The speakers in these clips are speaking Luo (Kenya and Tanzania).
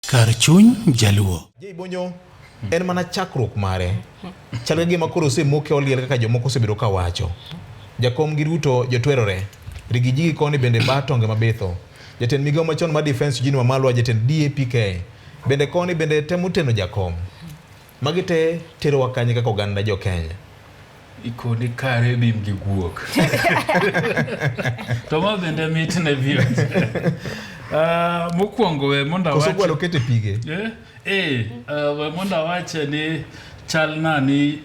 Kar chuny Jaluo. Jay Bonyo en mana chakruok mare. Chal ka gima koro osemoke oliel kaka jomoko osebedo ka wacho. Jakom gi Ruto jotwerore. Rigiji gi koni bende ba tonge mabitho. Jatend migawo machon mar defense Eugene Wamalwa jatend DAPK bende koni bende temo teno jakom. Magi te terowa kanye kaka oganda jo Kenya? ikoni kare bim gi guok to ma bende mit ne viewers uh, mokwongo we mondo awache koso gwalo kete pige eh eh uh, we mondo awache ni chal na ni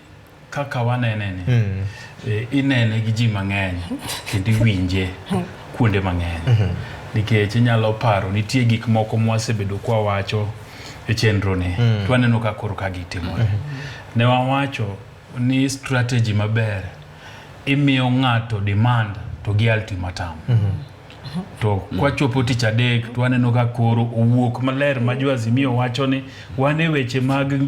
kaka wanene ni mm. eh, inene gi ji mang'eny kendo iwinje kuonde mang'eny mm -hmm. nikech inyalo paro nitie gik moko mwasebedo kwa wacho e chenro ni mm. twaneno ka koro ka gitimore mm -hmm. ne wawacho ni strategy maber imiyo ng'ato demand to gi ultimatum mm -hmm. to kwachopo tich adek to waneno ka koro owuok maler ma jo Azimio wacho ni wan e weche mag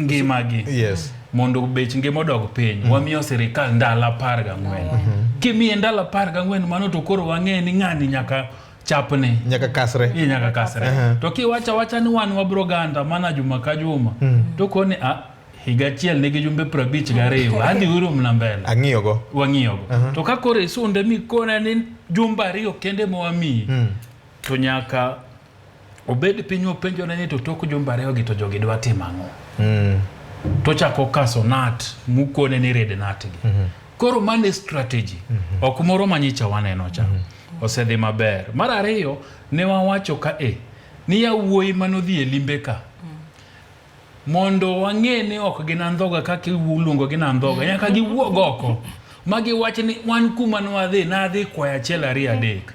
ngimagi yes. mondo bech ngima odog piny mm -hmm. wamiyo sirikal ndalo apar gang'wen mm -hmm. kimiye ndalo apar gang'wen mano to koro wang'e ni ng'ani nyaka chapne nyaka kasre e nyaka kasre uh -huh. to kiwacha wacha ni wan wabro ganda mana juma ka juma mm. to koni a ah, higa achiel nigi jumbe prabich gariyo adhi uru mna mbele ang'iyogo wang'iyogo uh -huh. to ka koro isunde mikona ni jumbe ariyo kende mowamiyi mm. to nyaka obed piny openjone ni to tok jumbe ariyogi to jogi dwa timo ang'o mm. tochako kaso nat mukone ni red natgi mm -hmm. koro mane strategy mm -hmm. ok moro manyicha waneno cha mm -hmm. osedhi maber mar ariyo ne wawacho ka e ni yawuoyi manodhi e limbe ka Mondo wang'e ni ok gin andhoga kaka iluongogi ni andhoga, nyaka giwuog oko ma giwach ni wan kuma nwadhi nadhi kwayo achiel ariyo adek.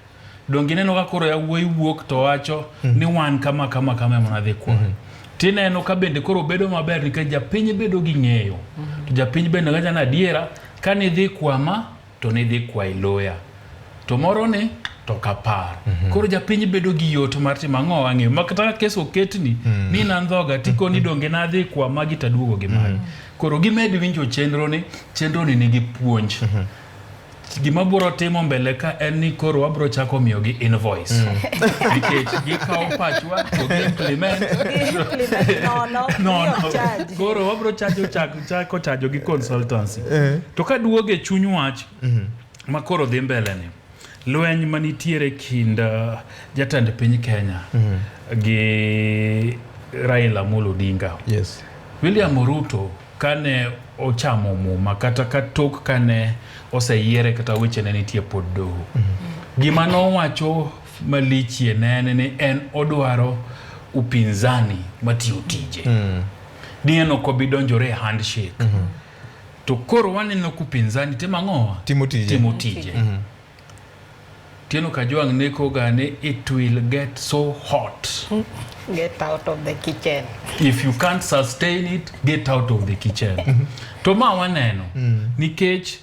Donge ineno ka koro yawuoyi wuok to wacho ni wan kama kama kama ema nadhi kwayo. Tineno ka bende koro bedo maber nikech japiny bedo gi ng'eyo. To japiny bende wacho ni adiera ka nidhi kwama to nidhi kwayi loya to moro ni to ok apar mm -hmm. koro japiny bedo gi yot mar timo ang'o wang'eyo makata kes oketni mm -hmm. ni nandhoga tikoni mhm. donge nadhi kwa magi taduogo gi magi mm -hmm. koro gimed winjo chenro ni chenro ni nigi puonj mm -hmm gima bro timo mbele ka en ni koro wabro chako miyo gi invoice mm. nikech gikawo pachwa to gi implement no no no koro wabro chajo chak chako chajo gi consultancy eh. to ka duoge chuny wach mhm. ma koro dhi mbele ni lweny ma nitiere kind uh, jatend piny Kenya mhm. gi Raila Amolo Odinga yes. William Ruto kane ochamo muma kata ka tok kane oseyiere kata weche ne nitie pod doho mhm. gima nowacho malichie nene ni en odwaro upinzani matiyo tije mm. Diyan ok obi donjore e handshake. Mm -hmm. To koro waneno kupinzani timo ang'owa? Timo tije. Timo tije. Mm -hmm. Tieno Kajwang' neko gane it will get so hot. Get out of the kitchen. If you can't sustain it, get out of the kitchen. Mm -hmm. To ma waneno. Mm -hmm. Nikech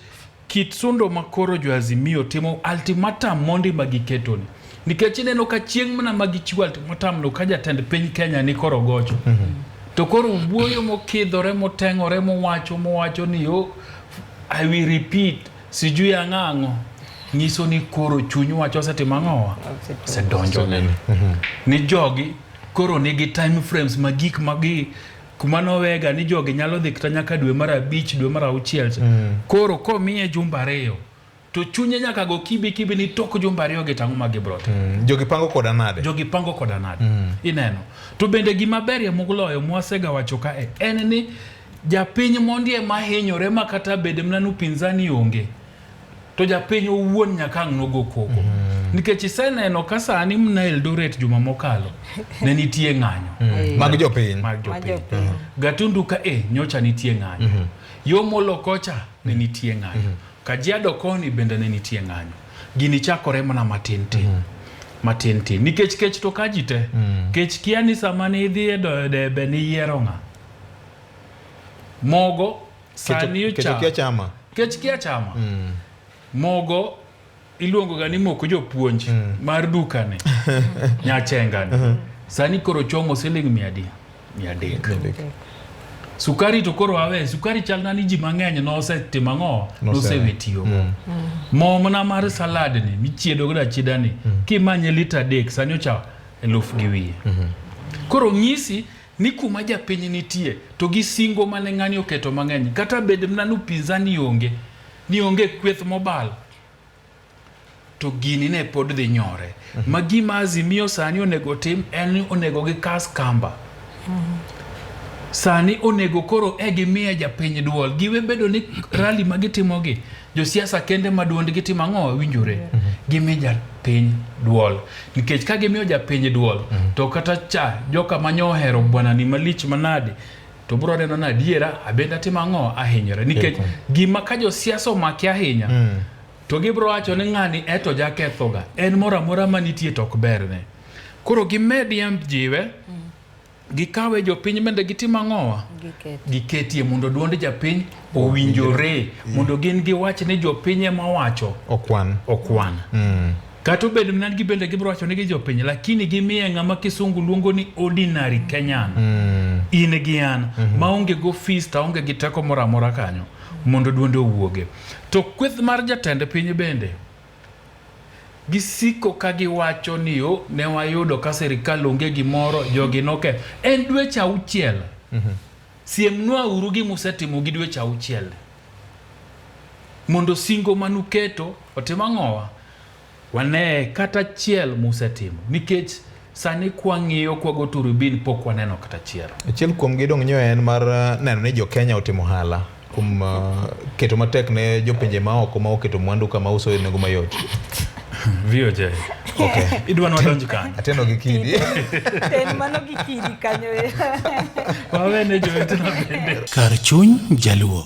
Kit sundo ma koro jo Azimio timo ultimatum mondi ma giketoni nikech ineno ka chieng' mana ma gichiwo ultimatum no ka jatend piny Kenya ni koro gocho mm -hmm. to koro wuoyo mokidhore moteng'ore mowacho mowacho ni yo oh, I will repeat sijui ang'ang'o nyiso ni koro chuny wacho osetimo ang'owa osedonjo ni jogi koro nigi time frames ma gik ma gi kuma nowega ni jogi nyalo dhi kata nyaka dwe mar abich dwe mar auchiel cha mm. koro komiye jumba ariyo to chunye nyaka go kibi kibi ni tok jumba ariyo gi tang'o ma gibro timo mm. jogi pango koda nade jogi pango koda nade mm. ineno to bende gima berie moloyo mwasega wacho ka e, en ni japiny mondie mahinyore ma kata bed mna ni upinzani onge to japiny owuon nyaka ang' nogo koko mm -hmm. nikech iseneno ka sani mna Eldoret juma mokalo ne nitie ng'anyo mm -hmm. mag jopiny mag jopiny mm -hmm. Gatundu ka e nyocha nitie ng'anyo mm -hmm. yo molo kocha ne nitie ng'anyo mm -hmm. Kajiado koni bende ne nitie ng'anyo gini chakore mana matin tin mm -hmm matin tin nikech kech to ka ji te mm. kech kia ni sama ni idhi e debe ni yiero ng'a mogo sani ocha chama kech kia chama mm. mogo iluongo ga ni moko jopuonj mm. mar dukani nyachengani uh -huh. sani koro chomo siling mia adi mia adek sukari to koro awe sukari chal na ni ji mang'eny nosetimo ang'o nosewe tiyo mm. mo mana mar salad ni michiedo godo achieda ni mm. kimanye lita adek sani ocha eluf gi wiye mm -hmm. koro ng'isi ni kuma japiny nitie to gi singo mane ng'ani oketo mang'eny kata bed mna ni upinzani onge ni onge kweth mobal to gini ne pod dhi nyore mm -hmm. ma gima azimio sani onego tim en ni onego gi kas kamba mm -hmm. sani onego koro e gimiye japiny duol giwe bedo ni rali ma gitimogi josiasa kende ma duondgi timo ang'o winjore mm -hmm. gimi japiny duol nikech ka gimiyo japiny duol mm -hmm. to kata cha joka manyo ohero bwana ni malich manade to bro neno na adiera abenda timo ang'o ahinyore nikech gima ka josiasa omaki ahinya mm -hmm. to gibro wacho ni ng'ani eto jakethoga en moro amora manitie to ok berne koro gimed yamb jiwe mm -hmm. gikawe jopiny mende gitim ang'owa giketie mondo duond japiny owinjore mm. mondo gin giwach ni jopiny ema wacho okwan okwan mm. kata obedo mnan gi bende gibiro wacho ni gi jopiny lakini gimiye ng'ama kisungu luongo ni ordinary kenyan mm. in gi an mm -hmm. maonge go fees ta onge gi teko moro amora kanyo mondo duonde owuoge to kweth mar jatend piny bende Gisiko ka giwacho ni yo ne wayudo ka sirikal onge gimoro jogi noke. En dweche auchiel. Mm -hmm. Siemnwa uru gi musetimo gi dweche auchiel. Mondo singo manuketo otim ang'owa. Wane kata chiel musetimo. Nikech Sani kwang'iyo kwago turubin pok waneno kata achiel. Achiel kuom gidong' nyo en mar uh, neno ni jo-Kenya otimo hala kuom uh, keto matek ne jopinje maoko ma oketo mwandu kama uso e nengo mayot. VOJ. Okay. Idwa nwadonj kanyo. Ateno gi kidi. Ten mano gi kidi kanyo. Wawene jowetena bende. Kar chuny jaluo.